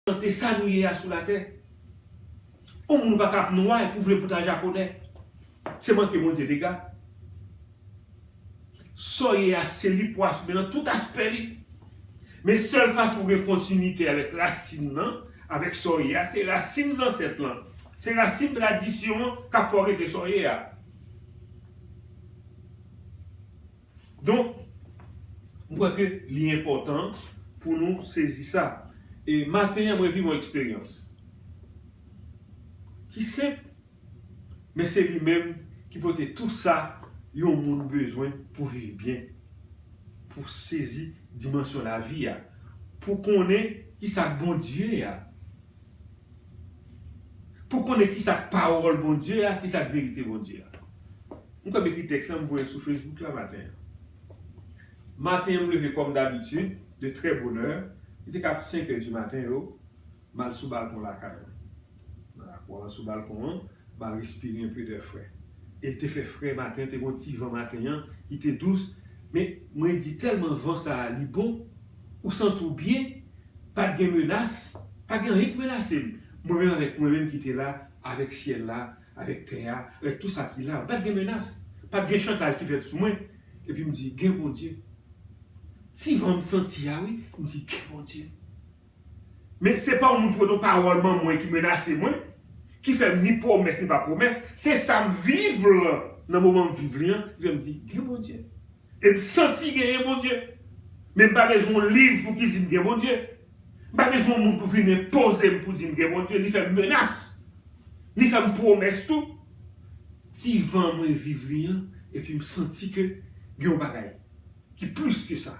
Tante sa nou ye a sou la tè. On moun paka ap nwa epi ou vle pou ta japonè. Se manke Bondye dega. Saw ye a se li pou assume nan tout aspè li. Men sèl fason pou gen kontinite avèk rasin nan, avèk sa w ye a, se rasin zansèt lan. Se rasin tradisyon an kap fè w rete sa w ye a. Donk, m kwè ke li enpòtan pou nou sezi sa. E maten an mwen viv yon eksperyans ki senp, men se li menm ki pote tou sa yon moun bezwen pou viv byen, pou sezi dimansyon lavi a, pou konnen ki sa Bondye a. Pou konnen kisa k pawòl Bondye a, kisa k verite Bondye a. M kwè m ekri tèks lan m voye sou Facebook la maten an. Maten an m leve kòm dabitid, de trè bonè, li te ka ap 5 è di maten yo, m al sou balkon lakay mwen. Nan lakou an, sou balkon an, m al respire enpe dè fre. E l te fè fre maten an, te gen yon ti van maten an ki te dous, men mwen di tèlman van sa a li bon, ou santi w byen. Pa t gen menas, pa t gen anyen ki menase m. Mwen menm avèk mwen menm ki te la, avèk syèl la, avèk tè a, avèk tou sa ki la yo. Pa t gen menas, pa t gen chantaj ki fèt sou mwen. Epi m di, Gen Bondye. Ti van m santi a wi, m di, Gen Bondye. Men se pa yon moun ki pot yon pawòl man mwen ki menase mwen, ki fè m ni pwomès ni pa pwomès. Se sa m viv lan, nan moman m viv li an, ki fè m di, Gen Bondye. E m santi genyen Bondye. Men m pa bezwen yon liv pou ki di m gen Bondye. M pa bezwen yon moun pou vin enpoze m pou di m gen Bondye, ni fè m menas, ni fè m pwomès tou. Ti van mwen viv li an, epi m santi ke gen yon bagay ki plis ke sa.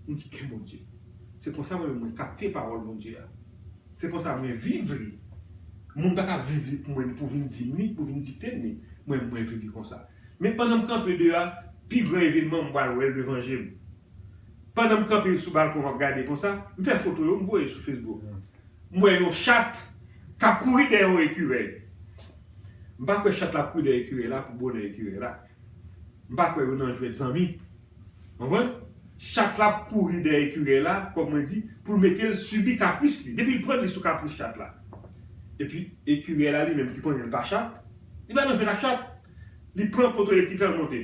M di gen Bondye. Se konsa mwen menm mwen kapte pawòl Bondye a. Se konsa mwen viv li. Moun pa ka viv li pou mwen ni pou vin di m li, pou vin dikte m li. Mwen menm mwen viv li konsa. Men pandan m kanpe deyò a, pi gran evenman m pral wè l devan je m. Pandan m kanpe sou balkon m ap gade konsa, m fè foto yo m voye sou fesbouk mwen. M wè yon chat k ap kouri dèyè yon ekirèy. M pa kwè chat la ap kouri dèyè ekirèy la pou bonè ekirèy la. M pa kwè yo nan jwèt zanmi. Ou konprann? Chat la ap kouri dèyè ekirèy la, kòm mwen di, pou l mete l sibi kapris li. Depi l pran li sou kapris chat la. Epi ekirèy la li menm ki konnen l pa chat. Li pa nan jwe la chat. Li pran poto elektrik la l monte.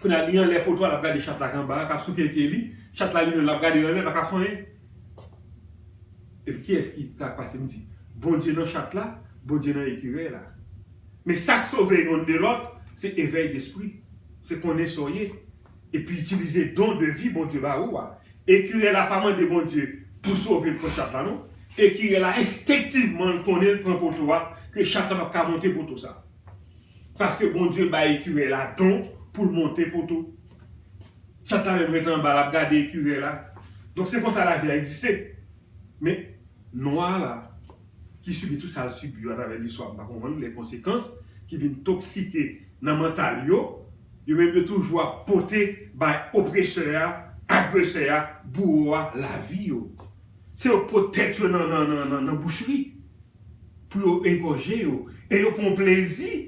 Kounye a li anlè poto a l ap gade chat la k anba a k ap souke pye li. Chat la li menm l ap gade l anlè l pa ka fè anyen. Epi kiyès ki ta pase m di? Bondye nan chat la, Bondye nan ekirèy la. Men sa k sove youn de lòt se evèy despri. Se konnen sa w ye. epi itilize don de vi Bondye ba ou a, ekirè la pa mande Bondye pou sove l pran chat la non, ekirè la enstenktivman l konnen l pran poto a ke chat la pap ka monte poto sa. Paske Bondye bay ekirè la don pou l monte poto. Chat la menm ret anba lap gade ekirè la. Donk se konsa lavi a egziste. Men Nwa la, ki sibi tout sa l sibi yo atravè listwa, m pa konprann lè konsekans ki vin toksike nan mantal yo, yo menm yo toujou ap pote bay opresè a, agresè a, bouwo a lavi yo. Se yo k pot tèt yo nan bouchri pou yo egòje yo e yo pran plezi.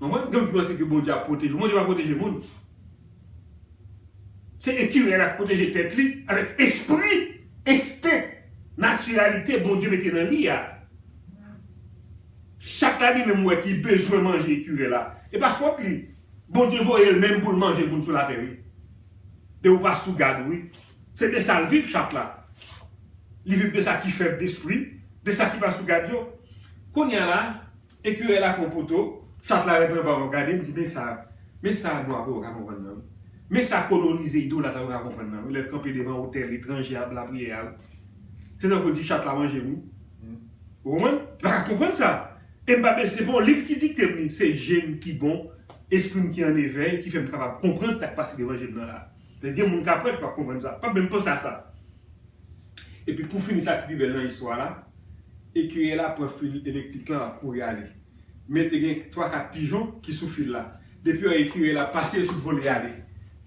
Mwen mwen menm ki panse ke Bondye ap pwoteje w. Bondye pa pwoteje moun. Se ekirè la k pwoteje tèt li avèk espri, ensten, natiralite Bondye mete nan li a. Chat la li menm wè ki bezwen manje ekirè la. E pa fòt li. Bondye voye l menm pou l manje moun sou latè wi. De ou pa sou gad ou wi. Se de sa l viv chat la. Li viv de sa ki fèb despri, de sa ki pa sou gad yo. Kounya la. Ecureuil la pran poto, chat la ret anba wap gade, mdi men sa, men sa nou ape waka konprann nan wi. Men sa kolonize idolat ape ka konprann nan wi lèl kanpe devan otèl etranje ap lapriyè a wi. Se tankoul di chat la manje m wi. Ou konprann? Mpa ka konprann sa. E mpa bezw, se pa yon liv ki diktem li, se jem ki bon, esprim ki an evèy ki fèm kapab konprann sak pase devan jem nan la. Gen moun kap wè ki pap konprann sa, pap menm panse a sa. Epi pou fini sa ki pi bèl nan istwa la, ekirye la pran fil elektrik lan ap kouri ale. Men te gen 3 4 pijon ki sou fil la. Depi yo wè ekirye la pase yo tout vole ale.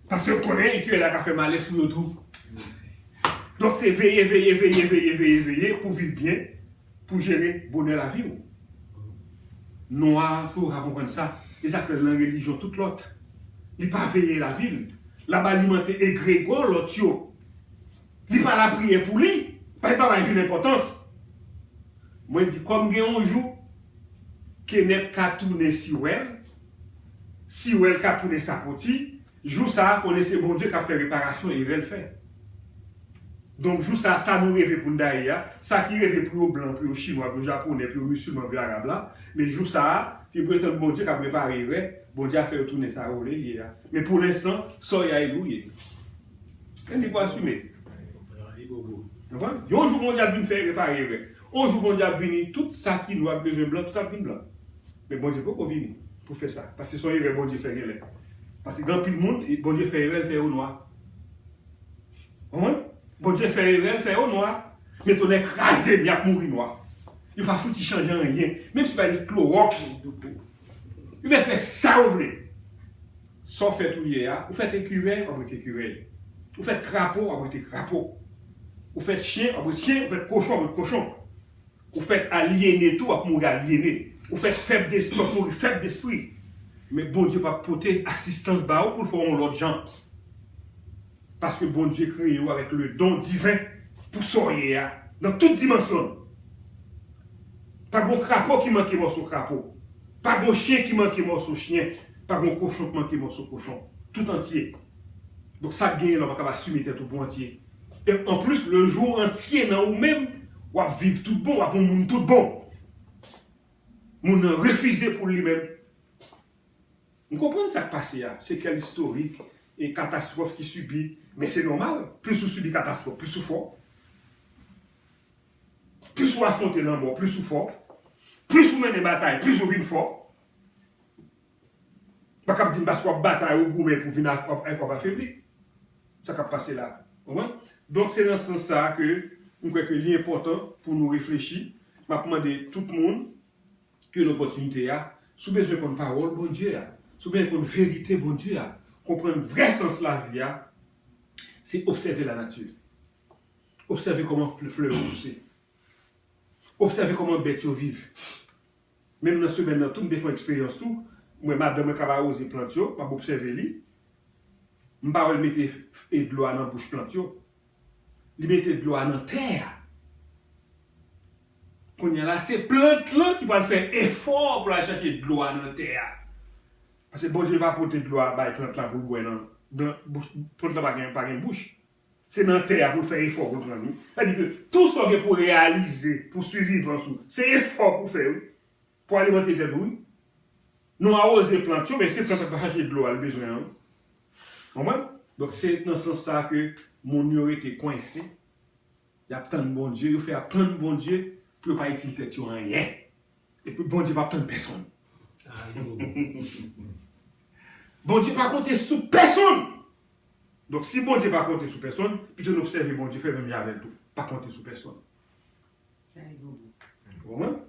Paske yo konnen ekirye la ka fè malè sou yo tou. Donk se veye, veye, veye, veye, veye, veye pou viv byen, pou jere bonè lavi ou. Nwa pou yo ka konprann sa. E sa k fè lan relijyon tout lòt, li pa veye lavi l. L ap alimante egregò lòt yo Li pa lapriyè pou li. Li pa bay joun enpòtans. Mwen di kòm gen yon jou Kenèt ka tounen Siwèl, Siwèl ka tounen Sapoti, jou sa a konnen se Bondye k ap fè reparasyon erè l fè. Donk jou sa a, sa nou reve pou n ta ye a, sa ki reve pou yo blan, pou yo chinwa, pou yo japonè, pou yo misilman, pou yo arab la, men jou sa a, yo pretann Bondye k ap repare erè, Bondye ap fè yo tounen sa yo vle l ye a. Men pou lenstan, Soyayou ye. Kè li pou asime. Yon jou Bondye ap vin fè repare erè. Yon jou Bondye ap vini tout sa ki nwa ki bezwen blan tout sa ap vin blan. Men Bondye poko vini pou fè sa. Paske son erè Bondye fè genlè. Paske gen anpil moun Bondye fè erè l fè yo nwa. Konprann? Bondye fè erè l fè yo nwa. Men tonè kraze m yap mouri nwa. Yo pa fouti chanje anyen. Menm si yo bay li klowòks. Yo mèt fè sa yo vle. Sa w fèt ou ye a, ou fèt ekirèy, w ap rete ekirèy. Ou fèt krapo, w ap rete krapo. Ou fèt chyen, w ap rete chyen, ou fèt kochon, w ap rete kochon. Ou fèt alyene tou, w ap mouri alyene. Ou fèt fèb despri, w ap mouri fèb despri. Men Bondye p ap pote asistans ba ou pou l fè w yon lòt jan. Paske Bondye kreye ou avèk le don diven pou sa w ye a nan tout dimansyon l. Pa gon krapo ki manke mòso krapo, pa gon chyen ki manke mòso chyen, pa gon kochon k manke mòso kochon. Tout antye. Donk sa k genyen la w pa kab asime tèt ou pou antye. E anplis le jou w antye nan ou menm, w ap viv tout bon, w ap yon moun tout bon. Moun nan refize pou li menm. M konprann sa k pase a, sekèl istorik, e katastwòf ki sibi, men se nòmal, plis ou sibi katastwòf, plis ou fò. Plis ou afwonte lanmò, plis ou fò. Plis ou mennen batay, plis ou vin fò. M pa kab di m paske w ap batay, ou goumen pou vin afebli. Sa k ap pase la. Konprann? Donk se nan sans sa a ke m kwè ke li enpòtan pou nou reflechi. M ap mande tout moun. Jwenn opòtinite a, si w bezwen konn pawòl Bondye a, si w bezwen konn verite Bondye a, konprann vrè sans lavi a, se obsève lanati. Obsève kòman flè yo pouse. Obsève kòman bèt yo viv. Menm nan semèn nan tou m te fè yon eksperyans tou, m wè madanm mwen k ap awoze plant yo, m ap obsève li, m pa wè l mete dlo a nan bouch plant yo. Li mete dlo a nan tè a. Kounye a la, se plant lan ki pral fè efò pou l al chache dlo a nan tè a. Paske Bondye pa pote dlo a bay plant lan pou l bwè nan bouch li. Plant lan pa gen bouch. Se nan tè a pou l fè efò pou l pran li. Sa vle di ke tou sa w gen pou reyalize pou sivivans ou, se efò pou w fè wi. Pou alimante tèt ou wi. Nou awoze plant yo men se plant la pa chache dlo a li bezwen an wi. Konprann? Donk se nan sans sa ke moun yo rete kwense, y ap tann Bondye, yo fè y ap tann Bondye pou yo pa itil tèt yo anyen. Epi Bondye p ap tann pèsonn. Bondye pa konte sou pèsonn! Donk si Bondye pa konte sou pèsonn, pito n obsève Bondye fè menm jan avè l tou. Pa konte sou pèsonn. Ou konprann?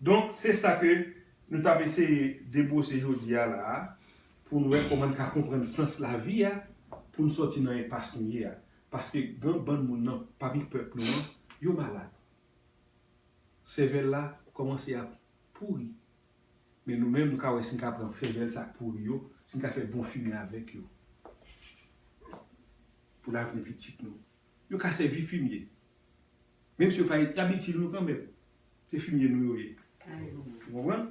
Donk se sa ke nou t ap eseye debwose jodi a la a pou n wè kòman n ka konprann sans lavi a pou n sòti nan enpas nou ye a. Paske gen bann moun nan pami pèp nou an, yo malad. Sèvèl la kòmanse ap pouri. Men nou menm nou ka wè si n ka pran sèvèl sa k pouri yo, si n ka fè bon fimen avèk yo pou lavni pitit nou. Yo ka sèvi fimye. Menm si yo pa y ap itil nou kanmenm. Se fimye nou yo ye. Ou konprann?